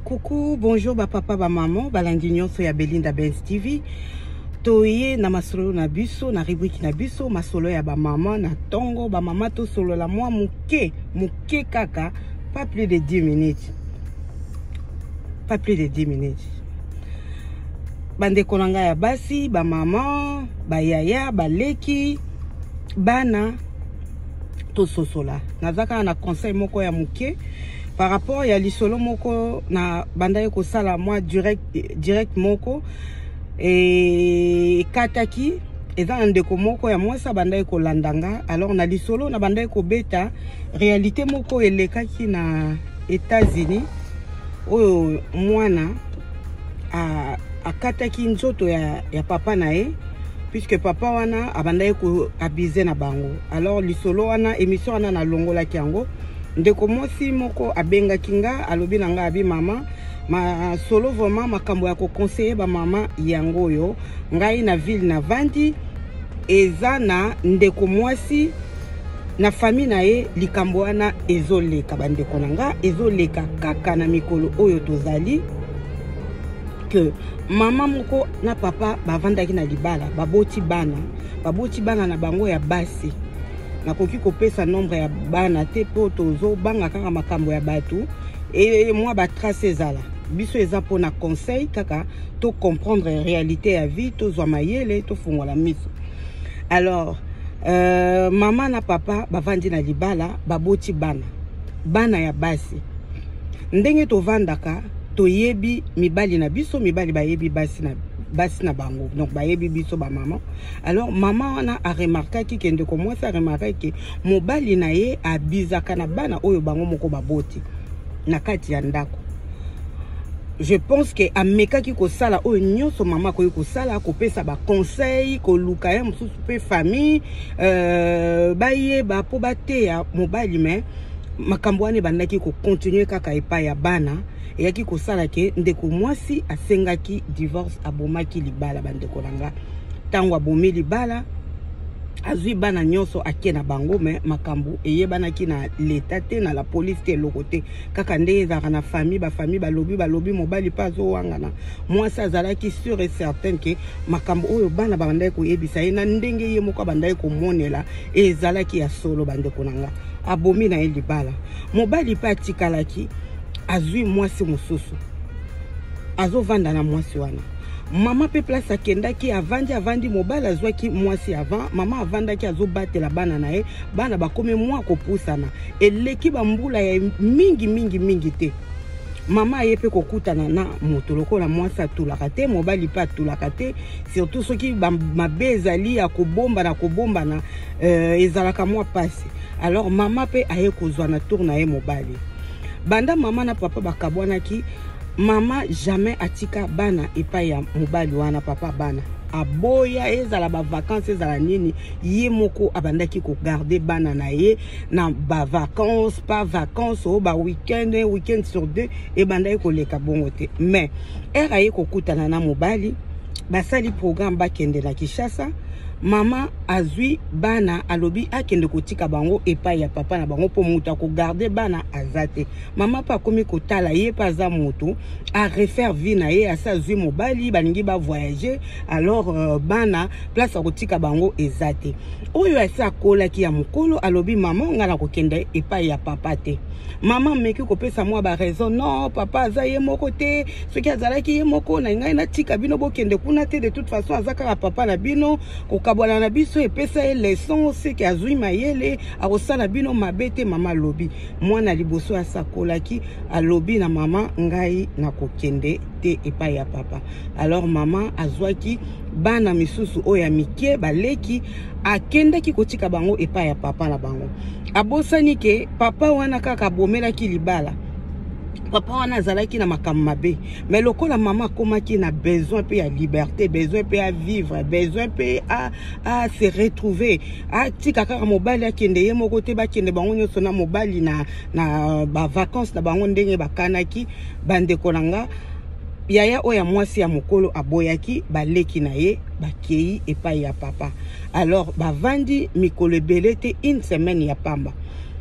Coucou, bonjour ba papa, ba maman, balandi nyonso ya Belinda Benz TV. Toye na masolo na biso, na rubrique na biso, masolo ya ba maman na tongo, ba maman to solo la moi muke, muke kaka, pas plus de 10 minutes. Pas plus de 10 minutes. Bandeko na ngai ya basi, ba maman, ba yaya, ba leki, bana, tososola naza kaka na conseil moko ya moke par rapport ya lisolo moko na bandaki kosala mwa direct, direct moko ekataki eza na ndeko moko ya mwasi abandaki kolanda nga alors na lisolo na bandaki kobeta réalité moko elekaki na états-unis oyo mwana akataki nzoto ya, ya papa na ye puisque papa wana abandaki koabuse na bango alors lisolo wana émission wana nalongolaki yango ndeko mwasi moko abengaki nga alobi na nga abi mama masolo vraiment makambo ya kokonseye bamama yango oyo ngai na ville na vandi eza na ndeko mwasi na famille na ye likambo wana ezoleka bandeko na nga ezoleka kaka na mikolo oyo tozali que mama moko na papa bavandaki na libala baboti bana baboti bana na bango ya basi nakoki kopesa nombre ya bana te mpo tozobanga kaka makambo ya bato e mwa batrace ezala biso eza mpo na conseil kaka to comprendre réalité ya vie tozwa mayele tofungola miso alors euh, mama na papa bavandi na libala baboti bana bana ya basi ndenge tovandaka toyebi mibali na biso mibali bayebi basi na basi na bango donc bayebi biso bamama alors mama wana aremarkaki ke ndeko mwasi aremarkaki ke mobali na ye abizaka na bana oyo bango moko baboti na kati ya ndako je pense ke amekaki kosala oyo nyonso mama akoki kosala kopesa baconseil koluka ye mosusu mpe famille euh, bayeba mpo bateya mobali mai makambo wana ebandaki kocontinue kaka epai ya bana eyaki kosala ke ndeko mwasi asengaki divorce abomaki libala bandeko na nga ntango abomi libala azwi bana nyonso ake na bango me makambo eyebanaki na leta te na la polise te eloko te kaka ndenge ezalaka na famille bafamille balobi balobi mobali mpe azowangana mwasi azalaki sur et certaine ke makambo oyo bana babandaki koyebisa ye na ndenge ye moko abandaki komonela ezalaki ya solo bandeko na nga abomi na ye libala mobali mpe atikalaki azwi mwasi mosusu azovanda na mwasi wana mama mpe place akendaki avandi avandi mobali azwaki mwasi avant mama avandaki azobatela bana na ye bana bakomi mwa kopusana eleki bambula ya mingi mingi mingi te mama aye mpe kokutana na moto lokola mwasi atulaka te mobali mpe atulaka te surtout soki mabe ezali ya kobombana kobombana euh, ezalaka mwa mpasi alors mama mpe aye kozwa na tour na ye mobali banda mama na papa bakabwanaki mama jamais atika bana epai ya mobali wana papa bana aboya ezala bavakance ezala nini ye moko abandaki kogarde bana na ye na bavakance pa vacance oyo baweekend weekend sur deux ebandaki koleka bongo te mais ere aye kokutana na mobali basali programme bakende na Kinshasa mama azui bana alobi akende kotika bango epai ya papa na bango mpo moto akogarde bana aza te mama mpe akomi kotala ye mpe aza moto arefaire vie na ye asi azwi mobali balingi bavoyage alors euh, bana place ya kotika bango eza te oyo asi akolaki ya mokolo alobi mama ngai nakokende epai ya papa te mama ameki kopesa mwa baraison non papa aza ye moko te soki azalaki ye moko na ngai natika bino bokende kuna te de toute façon aza kaka papa na bino kokabwana na biso epesa ye leson seke azwi mayele akosala bino mabe te mama alobi mwana liboso asakolaki alobi na mama ngai nakokende te epai ya papa alors mama azwaki bana misusu oyo ya mike baleki akendaki kotika bango epai ya papa na bango abosani ke papa wana kaka abomelaki libala papa wana azalaki na makambo mabe me lokola mama akomaki na besoin mpe ya liberté besoin mpe ya vivre besoin mpe a, a se retrouver atika kaka mobali akende ye moko te bakende bango nyonso na mobali na, na bavacance na bango ndenge bakanaki bandeko na nga yaya oyo ya mwasi ya mokolo aboyaki baleki na ye bakei epai ya papa alors bavandi mikolo ebele te une semaine ya pamba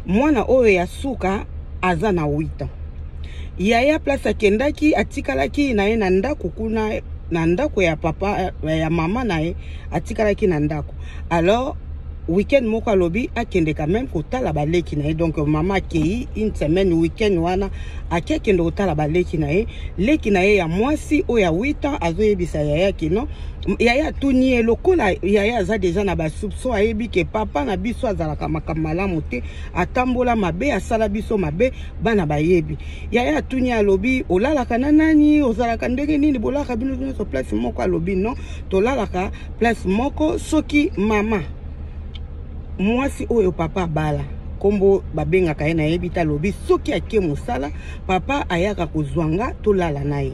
mwana oyo ya suka aza na 8 ans yaya place akendaki atikalaki na ye na ndako kuna na ndako ya papa eh, ya mama na ye atikalaki na ndako alors week-end moko alobi akende quand même kotala baleki na ye donc mama akei une semaine week-end wana ake akende kotala baleki na ye leki na ye ya mwasi oyo ya 8 ans azoyebisa yaya kino yaya atuni ye lokola yaya aza deja na basoupçon ayebi ke papa na biso azalaka makambo malamu te atambola mabe asala biso mabe bana bayebi yaya atuni alobi olalaka na nani ozalaka ndenge nini bolalaka bino nyonso place moko alobi non tolalaka place moko soki mama mwasi oyo papa abala nkombo babengaka ye nayebi te alobi soki ake mosala papa ayaka kozwa nga tolala na ye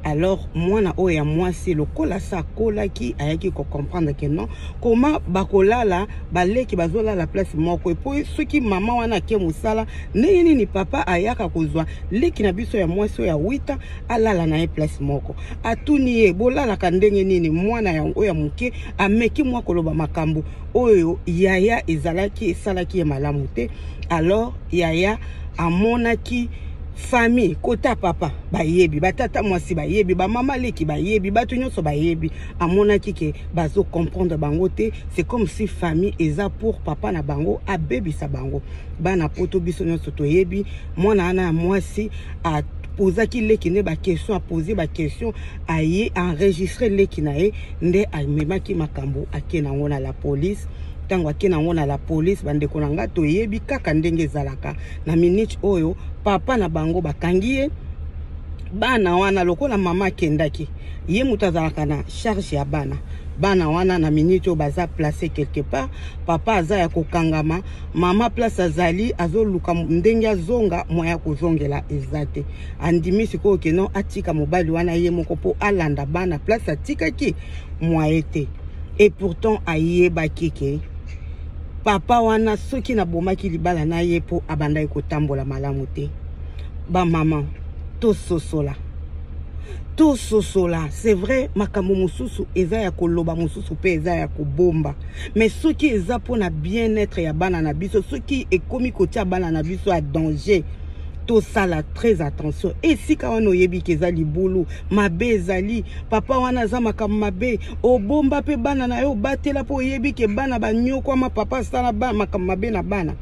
alors mwana oyo ya mwasi lokola sa akolaki ayaki kocomprendre ke non koma bakolala baleki bazolala place moko epo soki mama wana ake mosala ndenge nini papa ayaka kozwa leki na biso ya mwasi oyo ya wita alala na ye place moko atuni ye bolalaka ndenge nini mwana yango ya moke ameki mwa koloba makambo oyo yaya ezalaki esalaki ye malamu te alors yaya amonaki famille kota papa bayebi batata mwasi bayebi bamama leki bayebi bato nyonso bayebi amonaki ke bazo comprendre bango te c'est comme si famille eza pour papa na bango abebisa bango bana poto biso nyonso toyebi mwana wana ya mwasi apozaki leki nde baquestion apose baquestion aye enregistre leki na ye nde amemaki makambo ake na yango na la police ntango ake na yango na la police bandeko na ngai toyebi kaka ndenge ezalaka na minute oyo papa na bango bakangi ye bana wana lokola mama akendaki ye moto azalaka na charge ya bana bana wana na minute oyo baza place quelque part papa aza ya kokangama mama place azali azoluka ndenge azonga mwa ya kozongela eza te andimi sikoyo keno atika mobali wana ye moko mpo alanda bana place atikaki mwaye te et pourtant ayebaki ke papa wana soki nabomaki libala na ye mpo abandaki kotambola malamu te bamama tososola tososola c'est vrai makambo mosusu eza ya koloba mosusu mpe eza ya kobomba mais soki eza mpo na bien-être ya bana na biso soki ekomi kotia bana na biso ya danger tosala très attention esika wana oyebi ke eza libulu mabe ezali papa wana aza makambo mabe obomba mpe bana na yo obatela mpo oyebi ke bana banyokwama papa asala makambo mabe na bana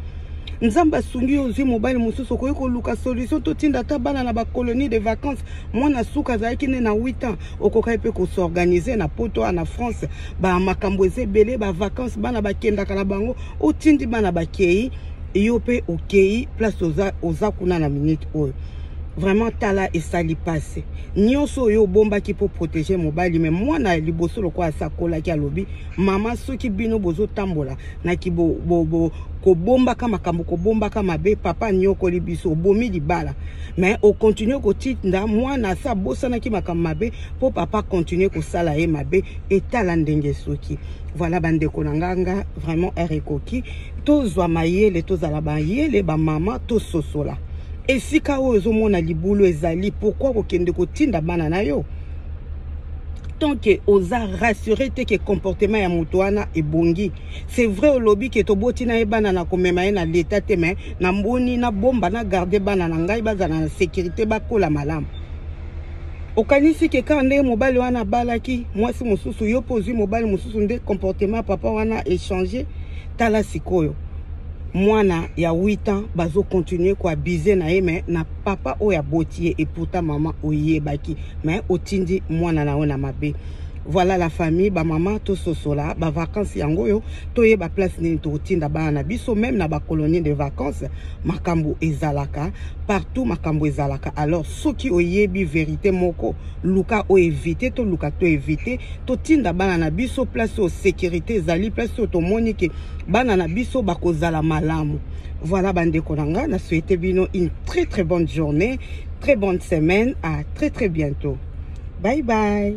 nzambe asungi yo ozwi mobali mosusu okoki koluka solution totinda ata bana na bacolonie de vacances mwana suka azalaki nde na 8 ans okokaki mpe kosorganize na poto a na france bamakambo eza ebele bavacances bana bakendaka na bango otindi bana bakei yo mpe okei place oza, oza kuna na minute oyo Vraiment tala esali pasi nyonso oyo obombaki mpo protege mobali me mwana ya liboso lokola asakolaki alobi mama soki bino bozotambola na kibobobo kobombaka makambo kobombaka mabe papa anyokoli biso obomi libala me okontinue kotinda mwana asi abosanaki makambo mabe mpo papa kontinue kosala ye mabe etala ndenge soki voilà bandeko na nganga vraiment heure ekoki tozwa mayele tozala mayele bamama tososola esika oyo ozomona libulu ezali pourkui kokende kotinda bana na yo tant que oza rassure te ke comportement ya moto wana ebongi c'est vrai olobi ke toboti na ye bana na komema ye na leta te me na mboni na bomba na garde bana na ngai bazala na sécurité bakola malamu okanisi ke kaka ndenge mobali wana abalaki mwasi mosusu yo mpe ozwi mobali mosusu nde comportement ya papa wana echange tala sikoyo mwana ya 8 ans bazo continuer ko abuse na ye mais na papa oyo aboti ye et pourtant maman oyebaki mais otindi mwana na yo na mabe voilà la famille bamama tososola bavacances yango oyo toyeba place nini tokotinda bana na biso meme na bacolonie de vacances makambo ezalaka partout makambo ezalaka alors soki oyebi verité moko luka o evite toluka to evite totinda bana na biso place oyo sécurité ezali place oyo tomoni ke bana na biso bakozala malamu voilà bandeko na nga na souhaite bino une très très bonne journée très bonne semaine à très très bientôt bye bye